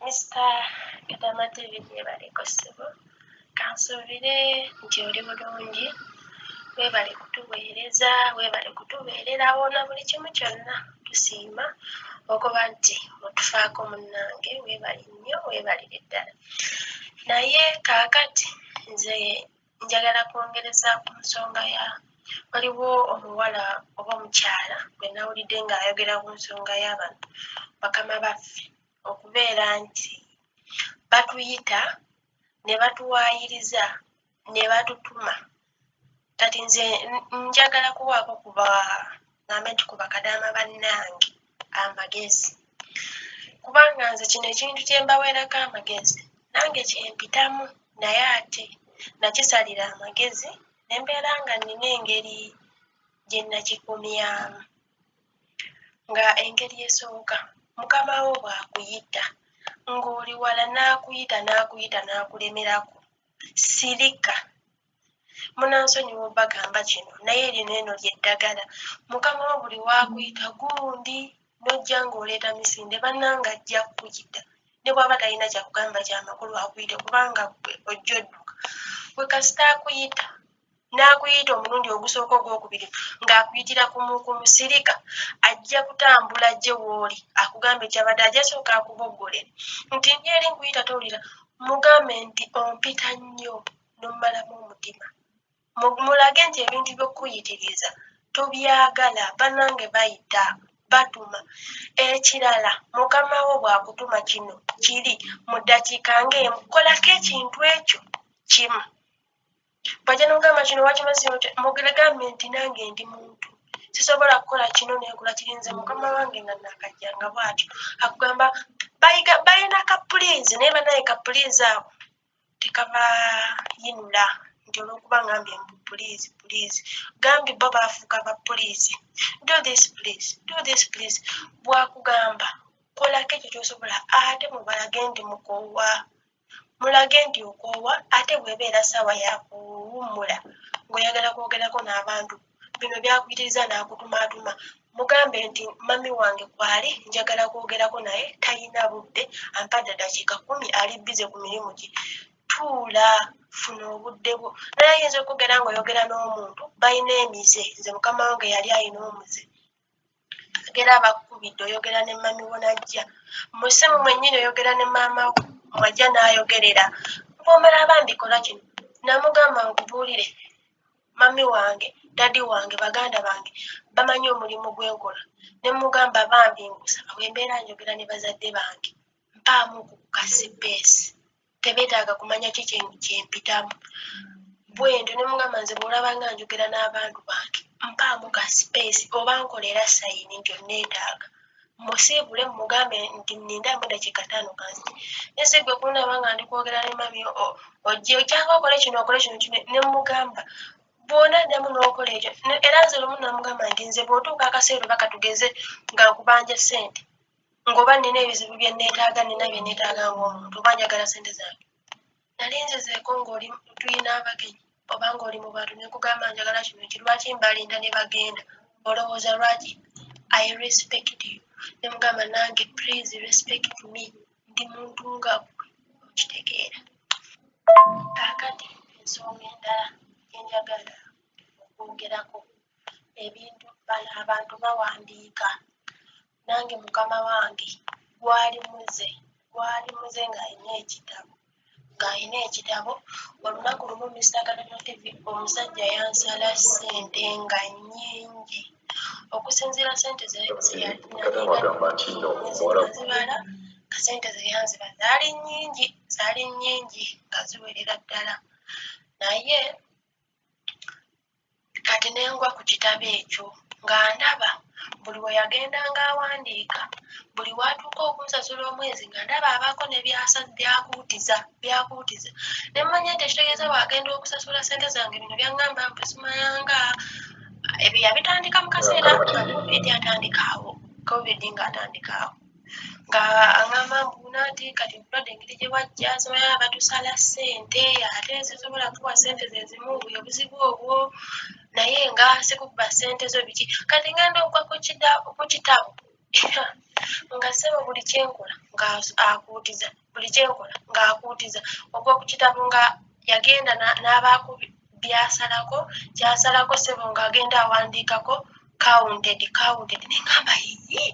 Mister Kadama TV yeebale ko ssebo, kansuubire nti oli bulungi, weebale kutuweereza, weebale kutubeererawo na buli kimu kyonna tusiima okuba nti otufaako munnange, weebale nnyo weebalire ddala. Naye kaakati nze njagala kwongereza ku nsonga ya waliwo omuwala oba omukyala gwe nawulidde ng'ayogera ku nsonga y'abantu bakama baffe okubeera nti batuyita ne batuwaayiriza ne batutuma kati nze njagala kuwaako kuba ngambe nti ku bakadaama bannange amagezi kubanga nze kino ekintu kye mbaweerako amagezi nange kye mpitamu naye ate nakisalira amagezi ne mbeera nga nnina engeri gye nakikomyamu nga engeri esooka mukama wo bw'akuyita ng'oli wala n'akuyita n'akuyita n'akulemerako sirika. munansonyiwa obagamba kino naye lino eno lyeddagala mukama wo buli wakuyita gundi nojja ngaoleeta misinde bananga ajja kukuyita ne bwaba talina kyakugamba kyamakulu akuyite kubanga gwe ojja odduka gwe kasita akuyita n'akuyita omulundi ogusooka ogwokubiri ng'akuyitira ku musirika ajja kutambula gye wooli akugamba ekyabadde ajja sooka akuboggole nti ndi eri nkuyita towulira mugambe nti ompita nnyo n'omumalamu omutima mulage nti ebintu by'okukuyitiriza tobyagala banange bayita batuma ekirala mukama wo bwakutuma kino kiri mu ddakiika ng'emu kolako ekintu ekyo kimu bwajja nogamba kino wakimazimugeregambe nti nange ndi muntu sisobola kukola kino nekula kirinze mukama wange nga nakajja nga bwatyo akugamba balina kapuliizi naye banaye kapuliizi awo tekabayinula nti olwokuba ngambye mbu puliizi puliizi gambye bo baafuuka ba puliizi do this please do this please bwakugamba kolako ekyo kyosobola ate mubalage nti mukoowa mulage nti okoowa ate bwebeera saawa yakuwummula ngaoyagala kwogerako n'abantu bino byakuyitiriza n'akutumaatuma mugambe nti mami wange kwali njagala kwogerako naye talina budde ampadde dakiika kumi ali bize ku mirimu gye tuula funa obudde bwo naye ayinza okugera ngaoyogera n'omuntu balina emize nze mukama wange yali alina omuze yogera abakukubidde oyogera ne mami wo najja musimu mwenyini oyogera ne maama wo mwajja nayogerera bwomala bambikola kino namugamba nkubuulire mami wange dadi wange baganda bange bamanyi omulimu gwenkola nemugamba bambi ngusaba bwembeera njogera ne bazadde bange mpaamu okukukasipeesi tebetaaga kumanya ki kyempitamu bwentyo nemugamba nze bwolabanga njogera n'abantu bange mpaamu ka space oba nkolera sayini nti onneetaaga musiibule mugambe nti ninde amuda kikataano kansi nese gwe kunaba nga ndi kwogera ne mami ojje okyanga okole kino okole kino kino ne mugamba bwona addamu n'okola ekyo era nze lumu namugamba nti nze bwotuuka akaseera oba katugeze nga nkubanja ssente ngoba nina ebizibu bye neetaaga nina bye neetaaga ng'omuntu oba njagala ssente zange nali nzizeeko ng'oli tulina abagenyi oba ng'oli mu bantu ne nkugamba njagala kino ki lwaki mbalinda ne bagenda olowooza lwaki i respect you ne mugamba nange please respect me ndi muntu nga gwe okitegeera kaakati ensonga endala gyenjagala okwogerako ebintu bano abantu bawandiika nange mukama wange gwali muze gwali muze ng'alina ekitabo ng'alina ekitabo olunaku lumu mister katono tv omusajja yansala ssente nga nyingi okusinziira sente zeyazibala kasente zeyanziba zaali nyingi zaali nyingi nga ziwerera ddala naye Kati ne ngwa ku kitabo ekyo nga ndaba buli we yagendanga awandiika, buli w'atuuka okunsasula omwezi nga ndaba abaako ne byakuutiza byakuutiza ne mmanya nti ekitegeeza bw'agenda okusasula ssente zange bino byangamba mbu simayanga ebyo yabitandika mu kaseera nga covid atandikaawo covid ng'atandikaawo. nga aŋamba mbu nati kati obulwadde engeri gye bwajja zimaya batusala ssente ate sisobola kuwa ssente zezimu buyo buzibu obwo naye nga sikubba ssente zo biki kati ngenda okwa ku kitabu nga sebo buli kyenkola nga akuutiza uh, buli kyenkola ng'akuutiza ogw'okukitabo nga yagenda n'abaako byasalako kyasalako sebo ng'agenda awandiikako counted counted ne ngamba yiyi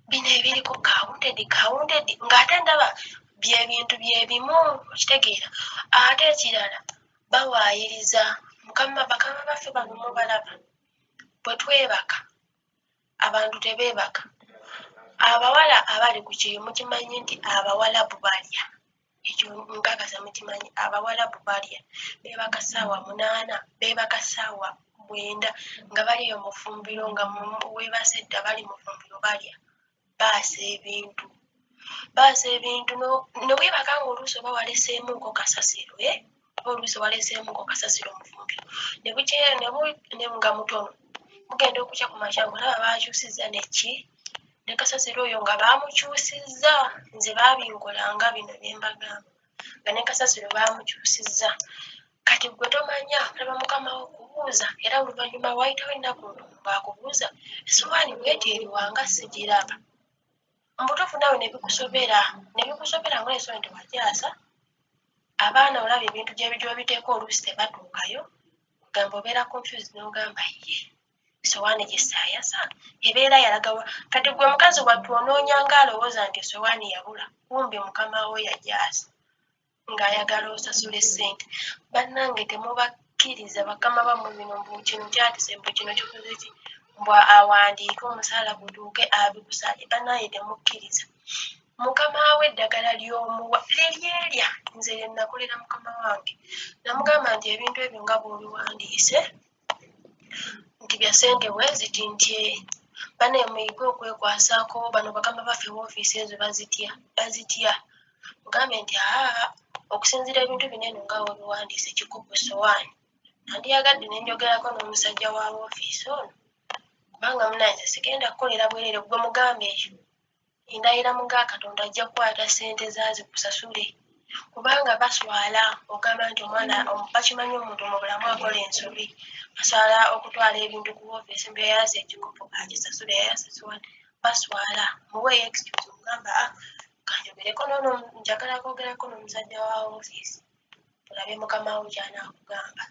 bino ebiriko counted counted ng'ate ndaba bye bintu bye bimu okitegeera ate ekirala bawaayiriza mukama bakama baffe bano mubalaba bwe twebaka abantu tebeebaka abawala abali ku kyeyo mukimanyi nti abawalabu balya ekyo nkakasa mukimanyi abawalabu balya beebaka saawa munaana beebaka saawa bwenda nga baliyo mufumbiro nga webasedda bali mufumbiro balya baasa ebintu baaza ebintu ne weebaka ng'oluusi oba waleseemuuko kasasiro e eh? oba oluusi waleseemuuko kasasiro omufumbiro ne bukyeyo ne nga mutono mugenda okukya ku makya ng'olaba baakyusizza neki ne kasasiro oyo nga baamukyusizza nze baabinkolanga bino ne mbagamba nga ne kasasiro baamukyusizza kati gwe tomanya olaba mukama wo kubuuza era oluvannyuma waayitawo ennaku ono ng'akubuuza esowaani bweti eriwanga sigiraba mubutuufu nawe nebikusobera nebikusobera ngoli ensonyi tewajaasa abaana olaba ebintu gyebijobiteeka oluusi tebatuukayo ogamba obeera confused nogamba ye esowaani gyesayasa ebeera yalagawa kati gwe mukazi wattu onoonya nga alowooza nti esowaani yabula kumbe mukamawo yajaasa ng'ayagala osasule ssente bannange temubakkiriza bakama bammwe bino mbu kino kyatise mbu kino kikoze ki mbu awandiike omusaala gutuuke abikusale bannange temukkiriza mukama we eddagala ly'omuwa liryerya nze lye nakolera mukama wange namugamba nti ebintu ebyo nga bw'obiwandiise nti bya sente bwe ziti ntye bane muyige okwekwasako bano bakama baffe wofiisi ezo bazitya bazitya mugambe nti aa okusinzira ebintu bino eno nga webiwandiise kikubu sowaani nandiyagadde nenjogerako n'omusajja wa wofiisi ono kubanga munanze sigenda kukolera bwerere gwe mugambe ekyo endayira mu ga katonda ajja kukwata sente zazi kusasule kubanga baswala ogamba nti omwana bakimanyi omuntu mubulamu akola ensobi baswala okutwala ebintu ku ofisi mbu yayasa ekikopo agisasule yayasa siwani baswala muwe excuse ogamba ah, kanjogereko nono njagala kwogerako nomusajja wa ofisi olabe mukama wo kyanakugamba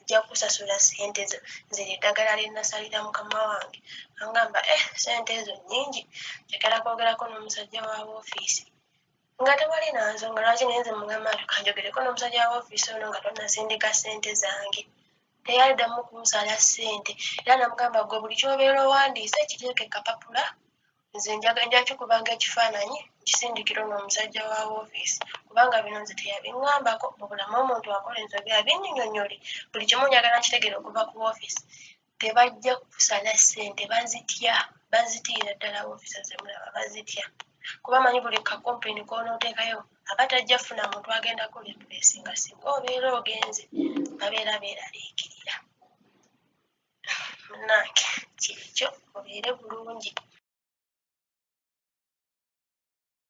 nja kusasula sente zo nzira eddagala lyenasalira mukama wange angamba eh sente ezo nyingi njagala kwogerako n'omusajja wa woofiisi nga tewali nansonga lwaki naye nze mugamba nti kanjogereko n'omusajja wa woofiisi ono nga tonasindika sente zange teyaddamu kunsala sente era namugamba gwe buli kyobeera owandiise kiteeke kapapula nze njagajaki kubanga ekifaananyi kisindikira ono omusajja wa wofiisi kubanga bino nze teyabiŋambako mubulamu omuntu akola ensobi abinyinyonyole buli kimu njagala nkitegere okuva ku wofiisi tebajja kusala ssente bazitya bazitiira ddala wofiisi zemulaba bazitya kuba manyi buli kakompeni konootekayo aba tajja funa muntu agenda kola empulesinga singa obeera ogenze babeera beeraliikirira munange kyekyo obeere bulungi.